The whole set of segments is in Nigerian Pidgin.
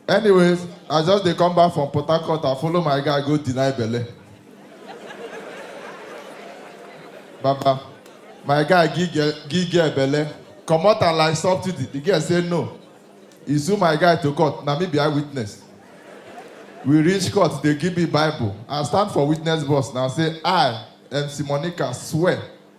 Anyways, I just dey come back from Port Harcourt, I follow my guy go deny belle. Baba, my guy give girl, give girl belle, comot am like subsidy, the girl say no. He sue my guy to court, na me be eyewitness. We reach court, they give me bible, I stand for witness box na say I, MC Monica swear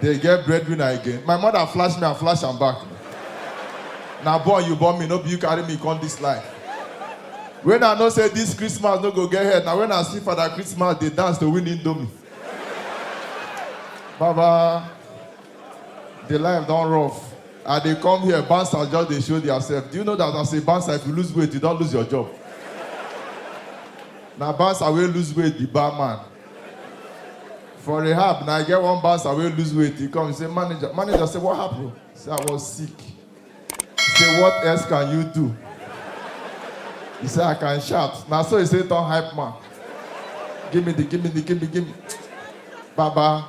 Dey get breadwinner again. My mother flash me and flash am back. Na born you born me, no be you carry me come this life. When I know say this Christmas no go get head, na when I see Father Christmas dey dance to win indomie. Baba, the life don rough. I dey come here, bouncers just dey show theirself. Do you know that as a bouncer, if you lose weight, you don lose your job? Na bouncer wey lose weight be barman. For rehab, now I get one bouncer wey lose weight. He come, he say, manager, manager say, what happened? He say, I was sick. He say, what else can you do? He say, I can shout. Now so he say, turn hype man. Give me the, give me the, give me, give me. Baba,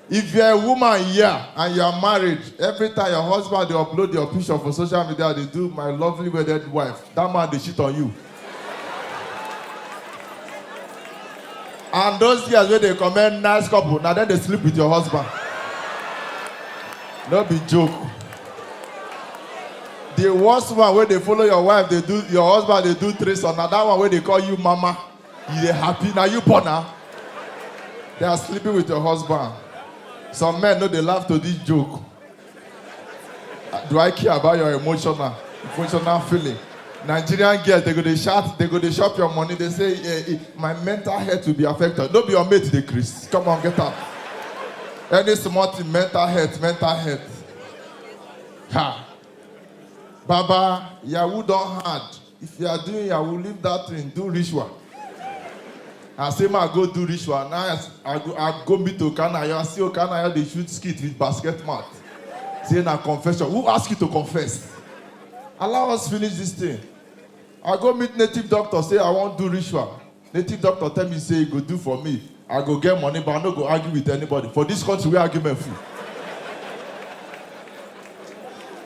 If you're a woman here and you're married, every time your husband dey upload your picture for social media dey do my lovely wedded wife, that man dey cheat on you. And those girls wey dey comment nice couple, na dem dey sleep with your husband. No be joke. The worst one wey dey follow your wife dey do your husband dey do threesome na that one wey dey call you mama. You dey happy? Na you born am? They are sleeping with your husband. Some men no dey laugh to this joke. Ah, Do I care about your emotional emotional feeling? Nigerian girls they go dey shout, they go dey chop your money. They say eh, eh, my mental health will be affected. No be your mate dey Chris. Come on, get out. Any small thing, mental health, mental health. Ha. Baba, Yahoo don hard. If you are doing yahoo, leave that thing, do ritual. I say, ma go do ritual. Now I, I go, I go meet Okanayo. I see Okanayo, they shoot skit with basket mat. Say, na confession. Who ask you to confess? Allow us finish this thing. I go meet native doctor, say, I won't do ritual. Native doctor tell me say e go do for me, I go get money but I no go argue with anybody for this country wey argument full.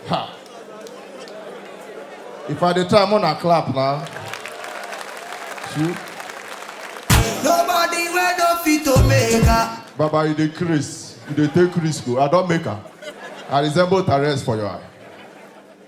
Ha! If I dey try, I'm gonna clap now. True. Nobody wey no fit to make her. Baba, you dey craze, you dey take risk o. I don make am. I resemble Tyrese for your eye.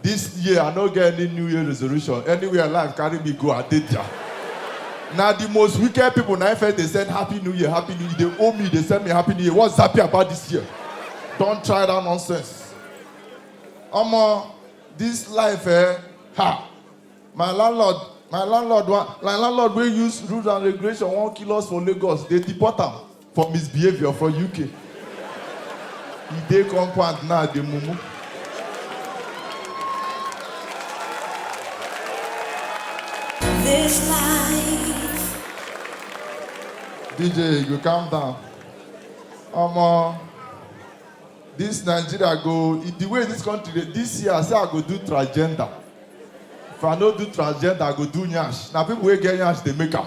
This year I no get any new year resolution, anywhere life carry me go I dey dia. Na the most wicked people na im first dey send happy new year, happy new year, you dey owe me, you dey send me happy new year, what's happy about this year? Don't try that nonsense. Omo, this life eh, ha, my landlord, my landlord wan, my landlord wey use rules and regulation wan kill us for Lagos, dey deport am. for misbehaviour for uk e dey compound now dey mumu. This life. DJ, you go calm down. Omo, this Nigeria go, e- the way this country dey, this year I say I go do transgender. If I no do transgender, I go do nyash. Na people wey get nyash dey make am.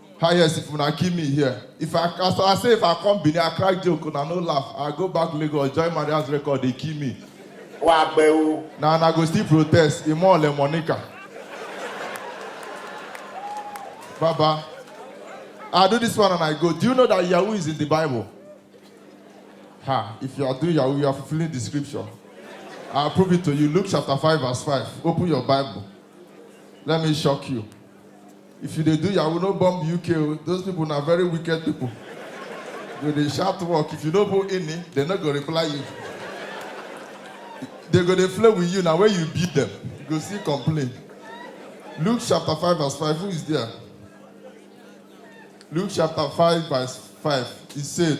How yes if una kill me here? If I as I say if I come Benin, I crack joke, una no laugh. I go back Lagos, join Maria's record, they kill me. Wà á pẹ́ o. Na una go still protest, Imo Ole Monica. Baba, I do this one and I go. Do you know that Yahoo is in the Bible? Ha, if you are doing Yahoo, you are fulfilling the scripture. I'll prove it to you. Luke chapter 5, verse 5. Open your Bible. Let me shock you. If you dey do yahoo no bomb UK o, those people na very wicked people. You dey shout work, if you no put ini, they no go reply you. They go dey play with you na when you beat them, you go still complain. Luke chapter 5 verse 5, who is there? Luke chapter 5 verse 5, he said,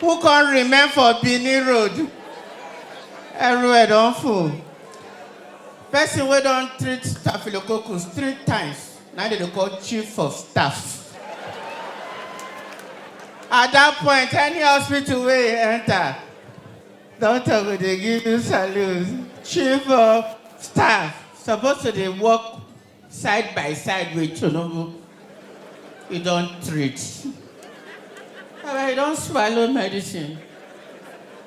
Who come remain for Benin road? Everywhere don full. Person wey don treat staphylococcus three times na dem dey call chief of staff. At that point, any hospital wey you enter, doctor go dey give you salute. Chief of staff suppose to dey work Side by side with Tinubu, he don treat. Baba, you don swallow medicine.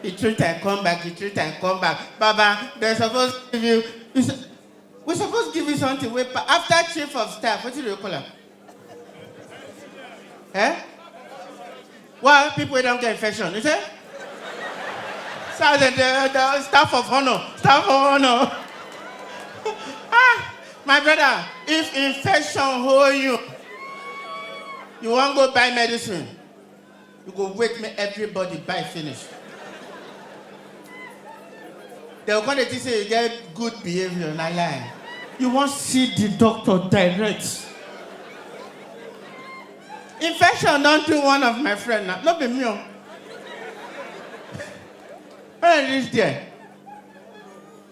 You treat and come back, you treat and come back. Baba, they suppose give you, you su- we suppose give you something wey, pa- after chief of staff, wetin do you call am? Eh? Why people wey don get infection? You say? Sergeant, the, the staff of honor, staff of honor. ah, my brother, if infection hold you, you wan go buy medicine. You go wait make everybody buy finish. They go come dey think say you get good behavior, na lie. You wan see the doctor direct. Infection don do one of my friend na, no be me o. When I reach there,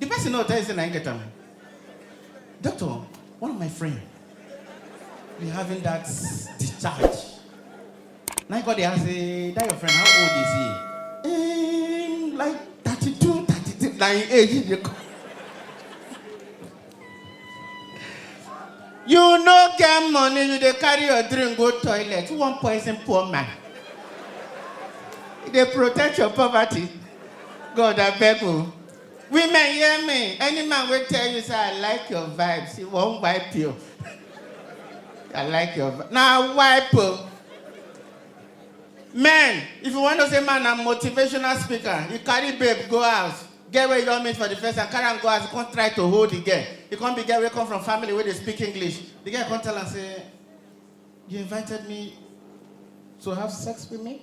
The person no tell you say na him get am. Doctor, one of my friend be having that discharge. Now he go dey ask say that your friend how old is he? Um, like 32, 33, na him age he dey come. You no get money, you dey carry your drink go toilet. Who wan poison poor man? You dey protect your poverty. God abeg o. Women hear me, any man wey tell you say I like your vibes, he wan wipe you. I like your vibes, na wipe o. Men, if you wan know say man na motivational speaker, he carry babe go house, girl wey he don meet for the first time, carry am go house, he come try to hold the girl, he come be girl wey come from family wey dey speak English, the girl come tell am say, you invited me to have sex with me?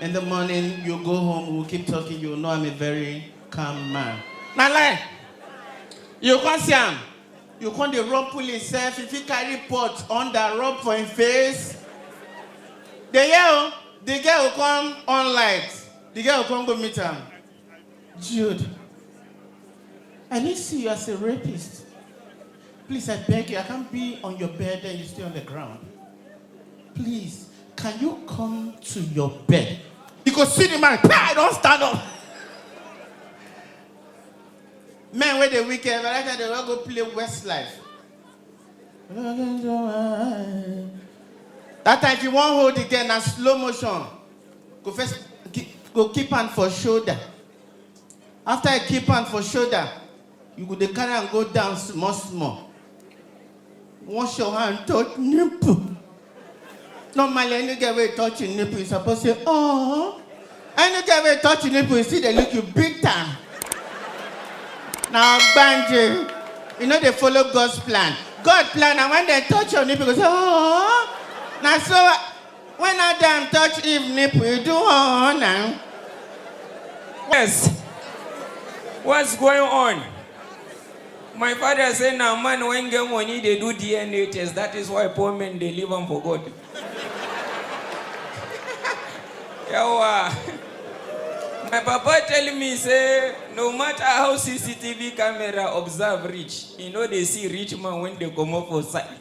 In the morning, you go home, we'll keep talking, you know I'm a very calm man. Na lie. You come see am. You come dey rub pull himself, if he carry pot under rub for him face. The year o, the girl will come on light. The girl will come go meet am. Jude, I didn't see you as a rapist. Please, I beg you, I can't be on your bed and you stay on the ground. Please, can you come to your bed? You go see the man, I don't stand up. Men where the weekend, but I time they will go play Westlife. That time if you want hold again, na slow motion. Go first, go keep hand for shoulder. After I keep hand for shoulder, You go dey carry am go down small small. Wash your hand touch nipple. Normally, any girl wey touch im nipple, you suppose say, oh. Any girl wey touch im nipple, you still dey look you big time. Na ogbanje. You no dey follow God's plan. God plan na when dem touch your nipple, you go say, oh. Na so When Adam touch Eve nipple, you do oh now. Yes. What's going on? My father say na man when get money dey do DNA test. That is why poor men dey leave am for God. Yawa. My papa tell me say no matter how CCTV camera observe reach, e no dey see rich man when dey comot for side.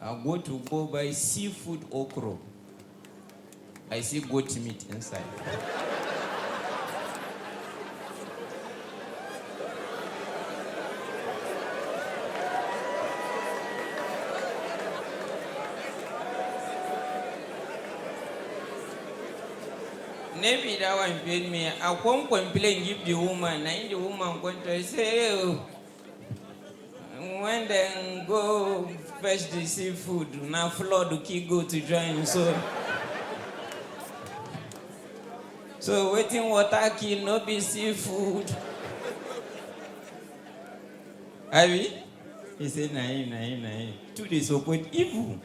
I go to go buy seafood okro, I see goat meat inside. na be that one pain me. I come complain give the woman, na im the woman come tell say, hey, when dem go fetch the seafood na flood kill goat join so so wetin water kill no be seafood abi he say na him na him na him two dey support evil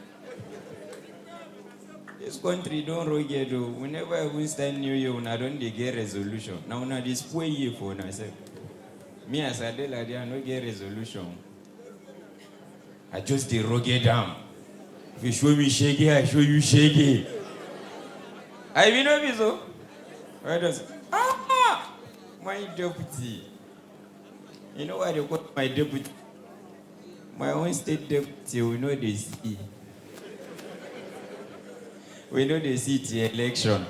this country don rugged o we never even start new year una don dey get resolution na una dey spoil year for una sef. Me as I dey like this, I no get resolution. I just dey rugged am. If you show me shege, I show you shege. I be no be so. Why does ah my deputy? You know why they call my deputy? My own stay deaf till we no dey see. We no dey see till election.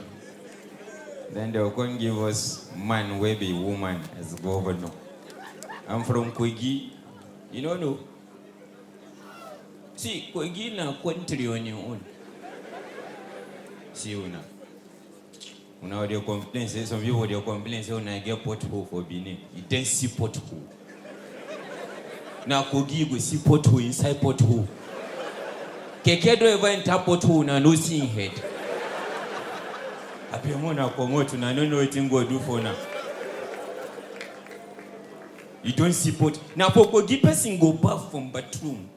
Then they'll come give us man wey be woman as governor. I'm from Kogi. You no know? See, Kogi na country on im own. See una. Una dey complain say some people dey complain say una get pothole for Benin. You don see pothole. Na Kogi you go see pothole inside pothole. Keke don ever enter pothole una no see im head. Abeg make una comot una no know wetin God do for una. You don see pot. Na for Kogi person go baff from bathroom.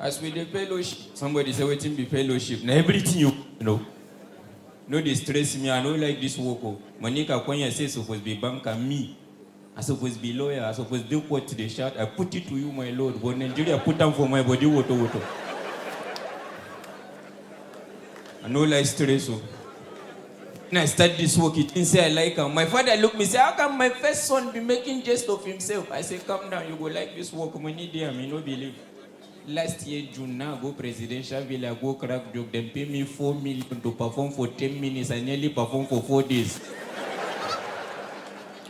As we dey fellowship, somebody say wetin be fellowship? Na everything you know. No dey stress me, I no like this work o. Monica Konya say suppose be banker, me. I suppose be lawyer, I suppose dey court dey shout, I put it to you my lord, but Nigeria put am for my body woto woto. I no like stress o. When I start this work, you think say I like am. My father look me say, how come my first son be making jest of himself? I say, calm down, you go like this work. Money there, me no believe. Last year June, now go presidential villa, go crack joke. Them pay me four million to perform for ten minutes. I nearly perform for four days.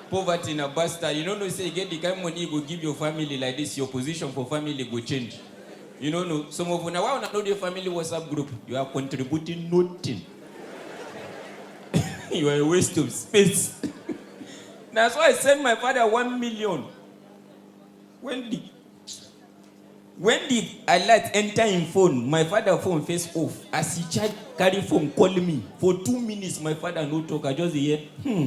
Poverty na bastard. You no know say you get the kind money you go give your family like this, your position for family go change. You no know. Some of una why una no dey family WhatsApp group? You are contributing nothing. you are a waste of space. Na so I send my father one million when the when the alert enter him phone, my father phone face off as he charge carry phone call me for two minutes my father no talk I just dey hear hmm.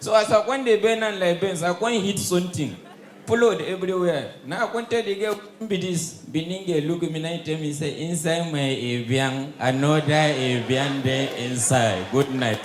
So as I come dey bend am like Benz, I come hit something, flood everywhere. Na I come tell the girl wetin be this, Benin girl look me na im tell me say inside my evian, another evian dey inside. Good night.